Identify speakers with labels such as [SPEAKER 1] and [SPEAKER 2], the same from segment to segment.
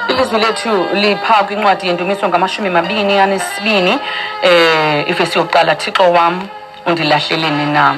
[SPEAKER 1] Ilizwi lethu lipha kwincwadi yendumiso ngamashumi mabini anesibini um eh, ifesi yokuqala thixo wam undilahleleni na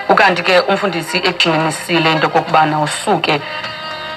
[SPEAKER 1] ukanti ke umfundisi egxinisile into okokubana usuke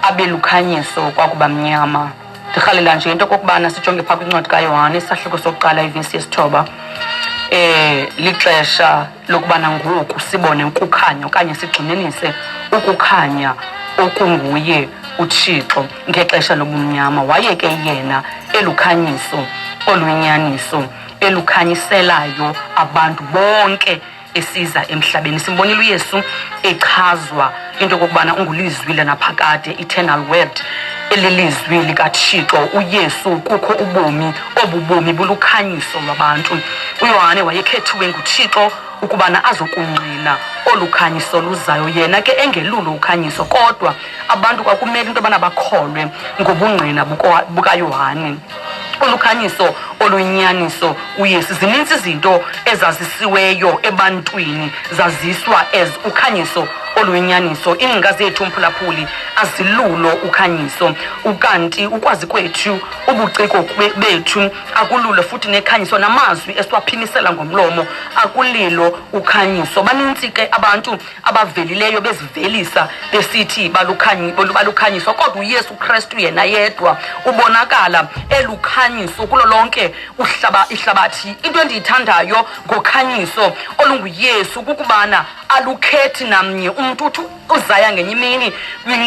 [SPEAKER 1] abe lukhanyiso kwakuba mnyama ndirhalela nje into okokubana sijonge phaa kwincwadi kayohane isahluko sokuqala ivesi yesithoba um lixesha lokubana ngoku sibone ukukhanya okanye sigxininise ukukhanya okunguye uThixo ngexesha lobumnyama waye ke yena elukhanyiso oluyinyaniso elukhanyiselayo abantu bonke esiza emhlabeni simbonile uyesu echazwa into okokubana ungulizwi lanaphakade eternal word elilizwi likathixo uyesu kukho ubomi obu bomi bulukhanyiso lwabantu uyohane wayekhethiwe nguthixo ukubana azokungqina olu khanyiso luzayo yena ke engelulo ukhanyiso kodwa abantu kwakumele into yobana bakholwe ngobungqina bukayohane olukhanyiso olunyaniso uyesu zininzi izinto ezazisiweyo ebantwini zaziswa as ukhanyiso oluyinyaniso iingcinga zethu mphulaphuli azilulo ukhanyiso ukanti ukwazi kwethu ubuciko bethu akululo futhi nekhanyiso namazwi esiwaphimisela ngomlomo akulilo ukhanyiso banintsi ke abantu abavelileyo bezivelisa besithi balukhanyiswa kodwa uyesu kristu yena yedwa ubonakala elukhanyiso kulo lonke ihlabathi into endiyithandayo ngokhanyiso olunguyesu kukubana alukhethi namnye umntu uthi uzaya ngenye imini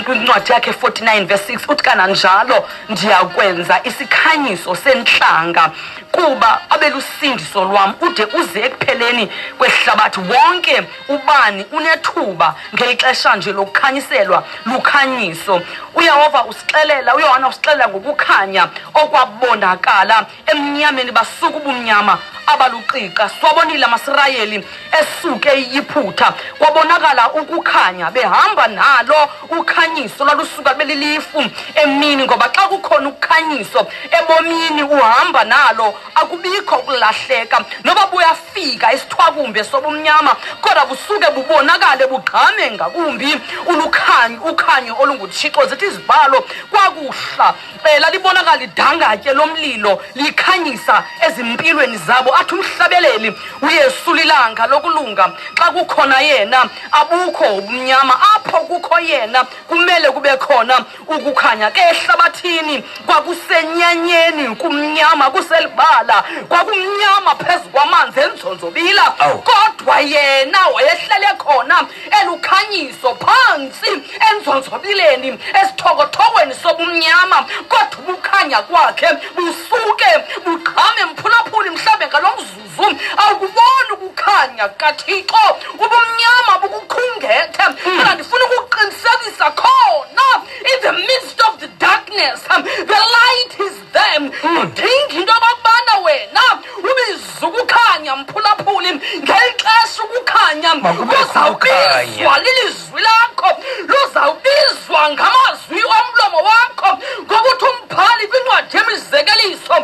[SPEAKER 1] kwincwadi yakhe 49 verse 6 uthi kananjalo ndiyakwenza isikhanyiso sentlanga kuba abelusindiso lwam ude uze ekupheleni kwehlabathi wonke ubani unethuba ngeli xesha nje lokukhanyiselwa lukhanyiso uyehova usixelela uyohana usixelela ngokukhanya okwabonakala emnyameni basuka ubumnyama abaluqiqa siwabonile amasirayeli esuke iyiphutha kwabonakala ukukhanya behamba nalo ukhanyiso lwalusuka belilifu emini ngoba xa kukhona ukukhanyiso ebomini uhamba nalo akubikho ukulahleka noba buyafika isithwakumbe sobumnyama kodwa busuke bubonakale bugqame ngakumbi ulukhanyo ukhanyo olunguthixo zithi izibalo kwakuhla um lalibonakala idangatye lomlilo likhanyisa ezimpilweni zabo athi umhlabeleli uyesu lilanga lokulunga xa kukhona yena abukho ubumnyama apho kukho yena kumele kube khona Ukukhanya ke ehlabathini kwakusenyanyeni, kumnyama kuselibala, kwakumnyama phezu kwamanzi enzonzobila. Awu. Kodwa yena wayehlele khona elukhanyiso phantsi enzonzobileni esithokothokweni sobumnyama, kodwa ubukhanya kwakhe busuke buqhame mphulaphuli mhlawumbe ngalo mzuzu. Vum, awukuboni ukukhanya kukaThixo, ubumnyama bukukhungethe. Kodwa ndifuna ukuqinisekisa khona, in the midst of the darkness, um, the light is there. Udinga into yokokubana wena ubize ukukhanya, mphulaphuli, ngeli xesha ukukhanya Makubekho kuzawubizwa ukhanya. lilizwi izwi lakho luzawubizwa ngamazwi omlomo wakho ngokuthi umbhali kwincwadi yemizekeliso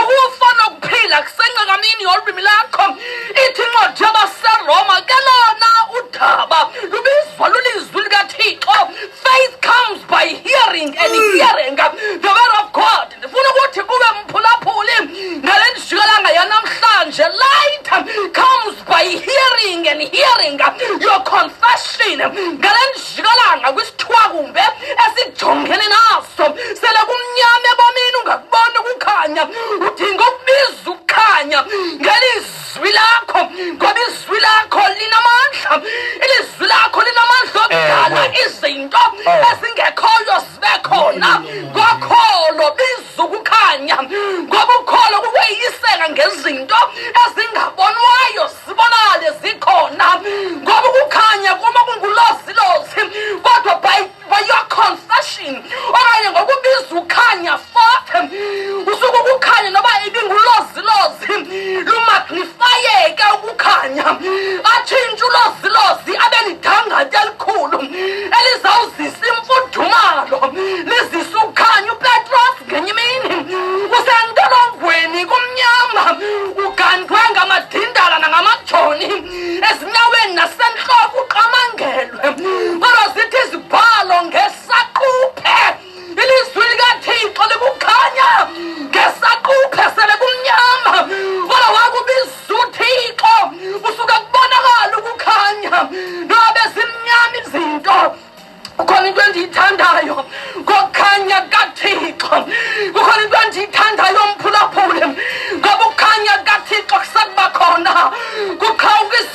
[SPEAKER 1] ukufa nokuphila kusencekamini yolwimi lakho ithi incwadi yabaseroma ke lona udaba lubizwa lulizwi likathixo faith comes by hearing and hearing the word of god ndifuna ukuthi kube mphulaphuli ngale ndijikelanga yanamhlanje light comes by hearing and hearing your confession ngale njikalanga kwisithwakumbe esijongene naso sele kumnyama ebomini ungakubona ukukhanya udinga ukubiza ukukhanya ngelizwi lakho ngoba izwi lakho linamandla ilizwi lakho linamandla okudala izinto ezingekhoyo bekhona ngokholo biza ukukhanya ngoba ukholo kukweyiseka ngezinto ezingabonwayo zibonale zikhona ngoba ukukhanya kuma kungulozilozi kodwa by, by your confession okanye ngokubiza ukhanya usuku ukukhanya noba ibingulozilozi lumagnifayeke ukukhanya atshintshe ulozilozi abe lidangatya elikhulu elizawuzisa imfudumalo lizisa ukukhanya upetros ngenye imini usentolongweni kumnyama ugandwe ngamadindala nangamajoni ezinyaweni nasentloko uqamangelwe kodwa zithi izibhalo ngesaquphe ilizwi likathixo likukhanya ngesaquphe sele kumnyama kodwa wakubiza uthixo usuke kubonakala ukukhanya noba bezimnyama izinto kukhona into endiyithandayo ngokukhanya kathixo kukhona into endiyithandayo mphulaphule ngoba ukukhanya kathixo kusakuba khona kukhawukisa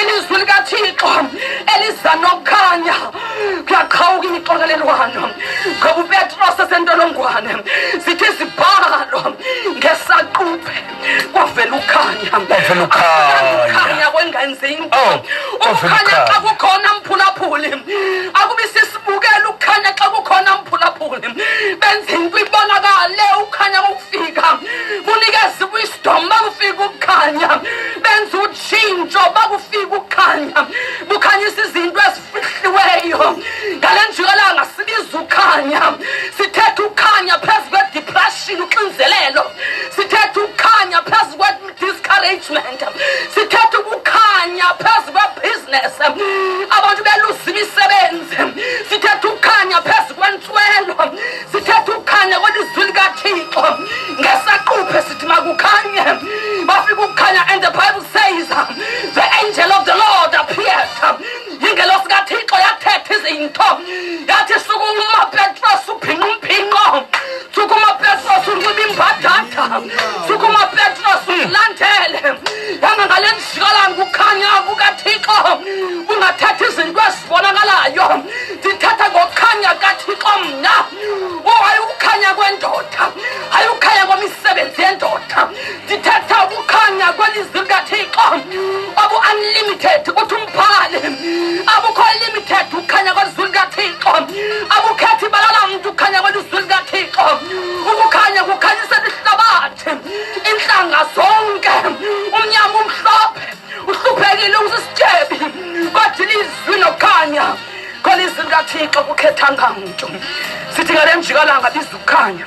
[SPEAKER 1] ilizwi likathixo eliza nokukhanya kuyaqhawuka imixokelelwano ngoba upetros esentolongwane zithi zibhalo ngesaquphe kwavela ukhanya ukhanya kwengenzinto oh, ukukhanya xa kukhona mphulaphuli akubi sisibukela ukukhanya xa kukhona mphulaphuli benza into ibonakale ukhanya kokufika kunikeza iwisdom makufika ukukhanya benza tshintsho bakufika ukhanya bukhanyisa izinto ezifihliweyo ngale njikalanga sibiza ukhanya sithetha ukhanya phezu kwedepression uxinzelelo sithetha ukhanya phezu kwe-discouragement sithetha ukukhanya phezu kwebhiziness abantu beluza imisebenzi sithetha ukhanya phezu kwentswelo sithetha ukukhanya kwelizwi likathixo ngesaquphe sithi makukhanye bafika ukukhanya and the bible says the angel of the lord appeared ingelosi kathixo yathetha izinto yathi sukuma petros ubhinqa umphinqo sukuma petros unxiba imbadada sukuma petros uzilandele yanga ngale ndisikalanga ukukhanya kukathixo bungathetha izinto ezibonakalayo ndithatha ngokukhanya kathixo mna o oh, hayi ukukhanya kwendoda hayi ukukhanya kwemisebenzi yendoda ndithatha ukukhanya kwelizwi likathixo obu-unlimited uthi umphali abukho limited ukukhanya kwelizwi likathixo abukhethi balala mntu ukukhanya kwelizwi likathixo ukukhanya kukhanyisela ihlabathi iintlanga zonke umnyama umhlophe Usuphekile usisityebi kodwa ilizwi nokhanya khona izwi likathixo kukhethanga mntu sithi ngale mjikalanga bizukhanya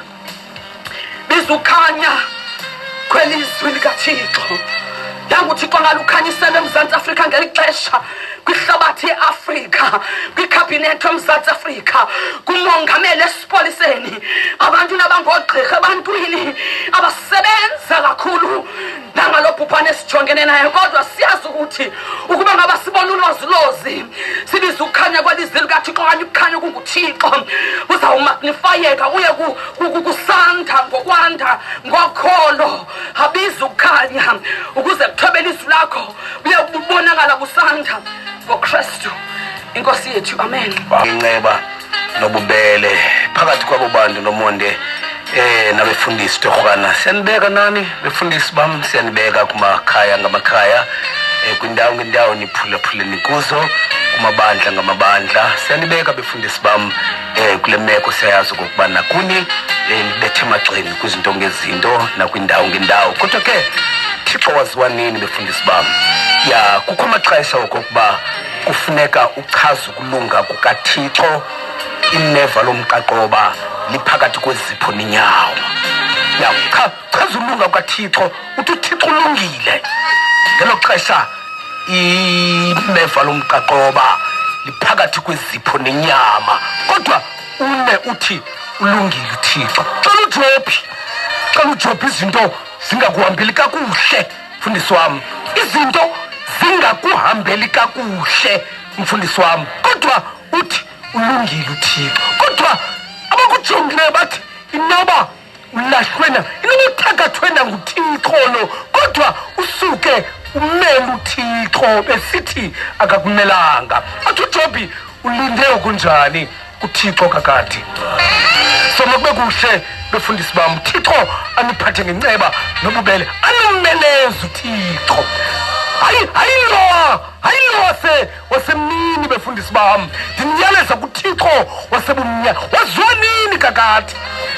[SPEAKER 1] bizukhanya khwelizwi likathixo yanga uthixo ngalukhanyisela emzantsi afrika ngeli xesha kwihlabathi eafrika kwikhabhinethi omzantsi afrika kumongameli esipoliseni abantu nabangoogqirha ebantwini abasebenza kakhulu nanga lo bhubhane esijongene naye kodwa siyazi ukuthi ukuba ngaba sibona ulwazilozi sibiza ukukhanya kwalizi likathixo okanye ukukhanya kunguthixo kuzawumagnifayeka kuye kusanda ngokwanda ngokholo abiza ukukhanya ukuze kuthobele izwi lakho kuye kubonakala kusanda ngokristu inkosi yethu amen inceba
[SPEAKER 2] nobubele phakathi kwabo bantu nomonde eh nabefundisi torhwana siyanibeka nani befundisi bam siyanibeka kumakhaya ngamakhaya eh, kwindawo ngendawo niphulaphule nikuzo kumabandla ngamabandla siyanibeka befundisi bam eh kule meko siyayazi okokuba nakuni eh, nibethe emagxeni kwizinto ngezinto nakwindawo ngendawo kodwa ke thixo waziwa nini befundisi bam ya kukho amaxesha okokuba kufuneka uchaza Kulunga kukaThixo ineva lomqaqoba liphakathi kwezipho nenyawo. Ya cha chaza ulunga kukaThixo uthi uThixo ulungile. Ngelo xesha ineva lomqaqoba liphakathi kwezipho nenyama. Kodwa une uthi ulungile uThixo. Cela ujophi. Cela ujophi izinto zingakuhambeli kakuhle. mfundisi wam izinto zingakuhambeli kakuhle mfundisi wam kodwa uthi ulungile uthixo kodwa abakujongileyo bathi inoba ulahlwena inoba uthakathwena nguthixolo kodwa usuke umele uthixo besithi akakumelanga athi ujobhi ulinde okunjani uthixo kakade soma kube kuhle befundisi bam uthixo aniphathe ngenceba nobubele animeneza uthixo hayi hayi lowa hayi lowa se wasemini befundisi bam ndiniyaleza kuthixo wasebumnyama waziwa nini kakade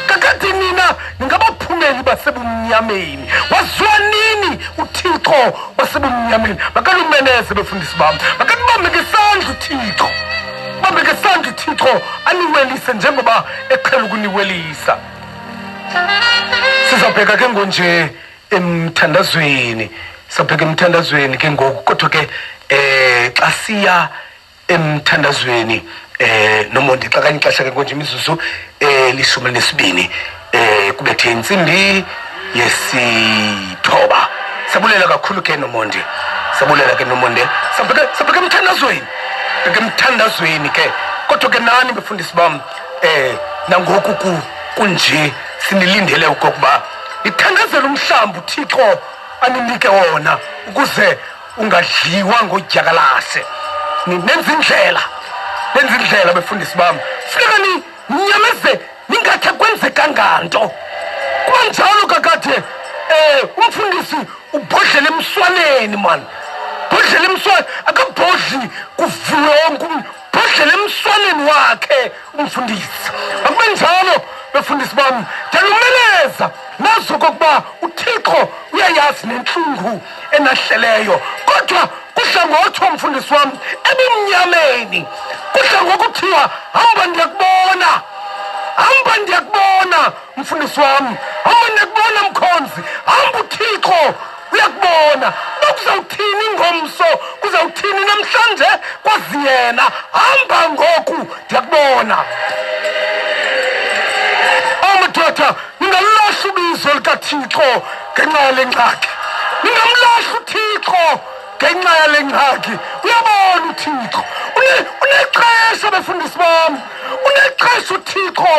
[SPEAKER 2] kakade nina ningabaphumeli basebumnyameni waziwa nini uthixo wasebumnyameni makalumeneze befundisi bam makanibambeke isandla uthixo Kambe ke sandi Thixo aniwelise njengoba eqhela ukuniwelisa. Sizabheka ke ngonje emthandazweni. Sabheka emthandazweni ke ngoku kodwa ke eh xa siya emthandazweni eh nomondi xa kanye xesha ke konje imizuzu eh lishumi nesibini eh kubethe intsimbi yesithoba sabulela kakhulu ke nomonde sabulela ke nomonde sabheke sabheke emthandazweni bheke emthandazweni ke kodwa ke nani befundisi bam eh nangoku ku kunje sinilindele ukuba ithandazela umhlamba uthixo aninike wona ukuze ungadliwa ngodyakalase nenza indlela nenza indlela befundisi bam funeka ni ninyamezele ningakhe kwenzekanga nto kwanjalo kakade um eh, umfundisi ubhodlele emswaneni mani bhodlele emswaneni akabhodli kuvule wonke umntu bhodlele emswaneni wakhe umfundisi akube njalo befundisi bam ndiyalumeleza nazo kokuba uthixo uyayazi nentlungu enahleleyo kodwa kudla ngothiwa mfundisi wam ebumnyameni kudla ngokuthiwa hamba ndiyakubona hamba ndiyakubona mfundisi wam hamba ndiyakubona mkhonzi hamba uthixo uyakubona uba kuzawuthini ngomso kuzawuthini namhlanje kwazi yena hamba ngoku ndiyakubona omadoda ningalilahla ubizo likathixo ngenxa yale ngxaki ningamlahli uthixo ngenxa yale ngxaki uyabona uthixo unexesha befundisi bam unexesha uthixo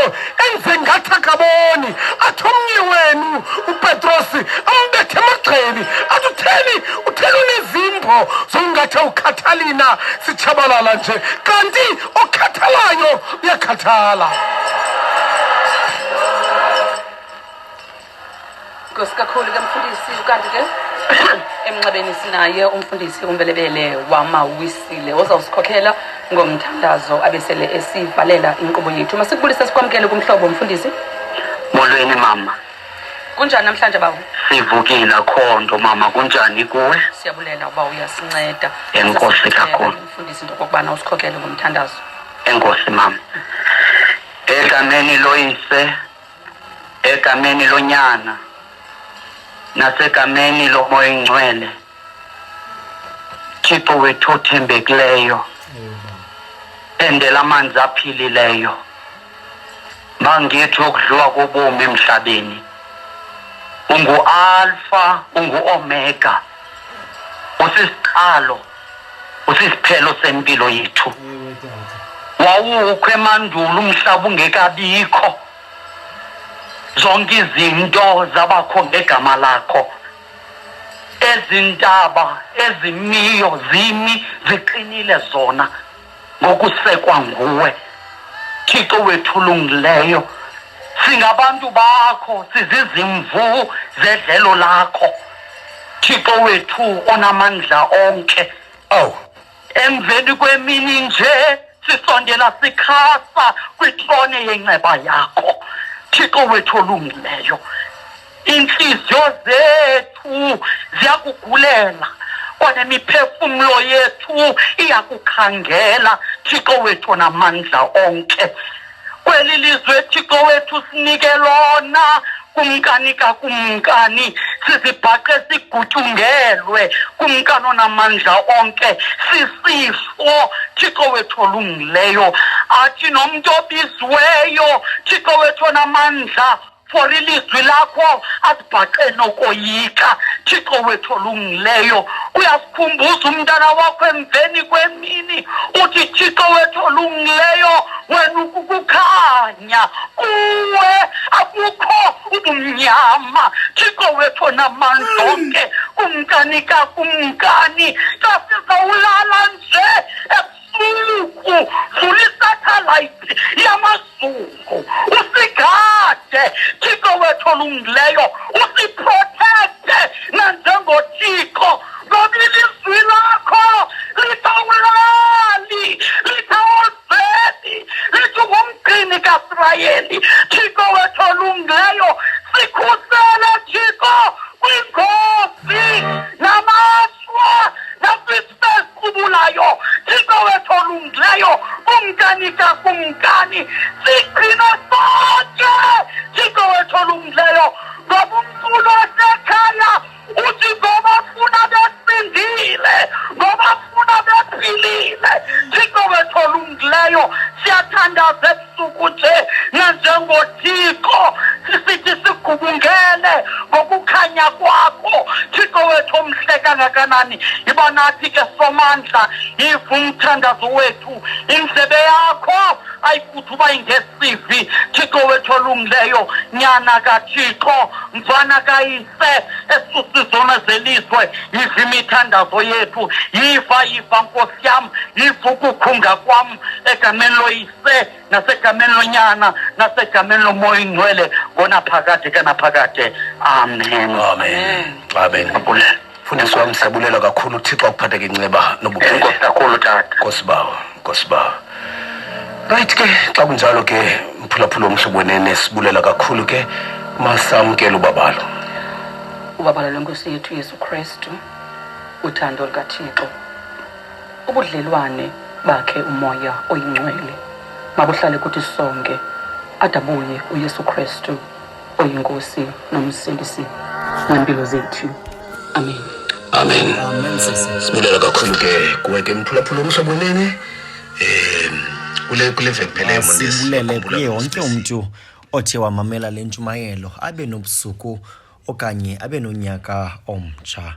[SPEAKER 2] enze ngathi akaboni athi omnye wenu upetrosi ambethe emagxeni athi utheni utheni unezimbo zokungathi ukhathalina sitshabalala nje kanti okhathalayo uyakhathala
[SPEAKER 1] Nkosi kakhulu ke mfundisi ukanti ke emnxebeni sinaye umfundisi umbelebele wamawisile ozawusikhokhela ngomthandazo abesele esivalela inkqubo yethu masikubulise sikwamkele kumhlobo mfundisi molweni
[SPEAKER 3] mama kunjani
[SPEAKER 1] namhlanje bawo sivukile akho
[SPEAKER 3] nto mama kunjani kuwe siyabulela uba
[SPEAKER 1] uyasinceda enkosi
[SPEAKER 3] kakhulu mfundisi into okokubana
[SPEAKER 1] usikhokele ngomthandazo enkosi mama
[SPEAKER 3] edlameni loyise egameni lonyana nasegameni lomoya ingcwele thixo wethu othembekileyo endela amanzi aphilileyo mangithi okudliwa kobomi emhlabeni ungualfa unguomega usisiqalo usisiphelo sempilo yethu wawukho emandulo umhlaba ungekabikho zonke izinto zabakho ngegama lakho ezintaba ezimiyo zimi ziqinile zona ngokusekwa nguwe thixo wethu ulungileyo singabantu bakho sizizimvu zedlelo lakho thixo wethu onamandla onke ow emveni kwemini nje sisondela sikhasa kwitrone yenceba yakho thixo wethu olungileyo iintliziyo zethu ziyakugulela kwanemiphefumlo yethu iyakukhangela thixo wethu namandla onke kweli lizwe thixo wethu sinike lona kumkani kakumkani sizibhaqe sigutyungelwe kumkani onamandla onke sisifo thixo wethu olungileyo athi nomntu obiziweyo thixo wethu onamandla for ilizwi lakho asibhaqe nokoyika thixo wethu olungileyo uyasikhumbuza umntana wakho emveni kwemini uthi thixo wethu olungileyo wena ukukukhanya kuwe akukho ubumnyama thixo wethu onamandla onke kumkani kakumkani xa sizawulala nje usuku fulisathalayithi yamazungu usigade thixo wethu olungileyo usiprotecte nanjengothixo ngoba ilizwi lakho litha ulali litha ozedi lithi ngumgcini kasirayeli thixo wethu olungileyo sikhusele thixo kwingozi namashwa esiqubulayo thixo wethu olungileyo kumkani kakumkani sigcino sonke thixo wethu olungileyo ngoba umculo wasekhaya uthi ngoba funa besindile ngoba funa bephilile thixo wethu olungileyo siyathandaze ukuthi nanjengothixo sisithi sigubungele ngokukhanya kwakho thixo wethu omhle kangakanani yiba nathi ke somandla yiva umthandazo wethu indlebe yakho ayikuthi uba ingesivi thixo wethu olungileyo nyana kathixo mfana kayise esusizona zelizwe yiva imithandazo yethu yiva yiva nkosi yam yiva ukukhunga kwam egameni loyise se nasegameni lonyana nasegameni lomoya ingcwele ngona phakade ke naphakade amen amen
[SPEAKER 2] amen abulele fundisi wam siyabulela kakhulu uthixo akuphatheke inceba nobukhulu kakhulu tata
[SPEAKER 3] nkosibawo nkosibawo
[SPEAKER 2] right ke xa kunjalo ke mphulaphula omhlobo wenene sibulela kakhulu ke masamkele ubabalo ubabalo
[SPEAKER 1] lwenkosi yethu yesu kristu uthando lukathixo ubudlelwane bakhe umoya oyingcwele mabuhlale kuthi sonke adabuye uyesu kristu oyinkosi nomsindisi ngempilo zethu amen amen
[SPEAKER 2] sibulela kakhulu ke kuwe ke mphulaphula omhlobo wenene um kule kule vekuphelele mosibulele kuye
[SPEAKER 4] wonke umntu othe wamamela le ntshumayelo abe nobusuku okanye abe nonyaka omtsha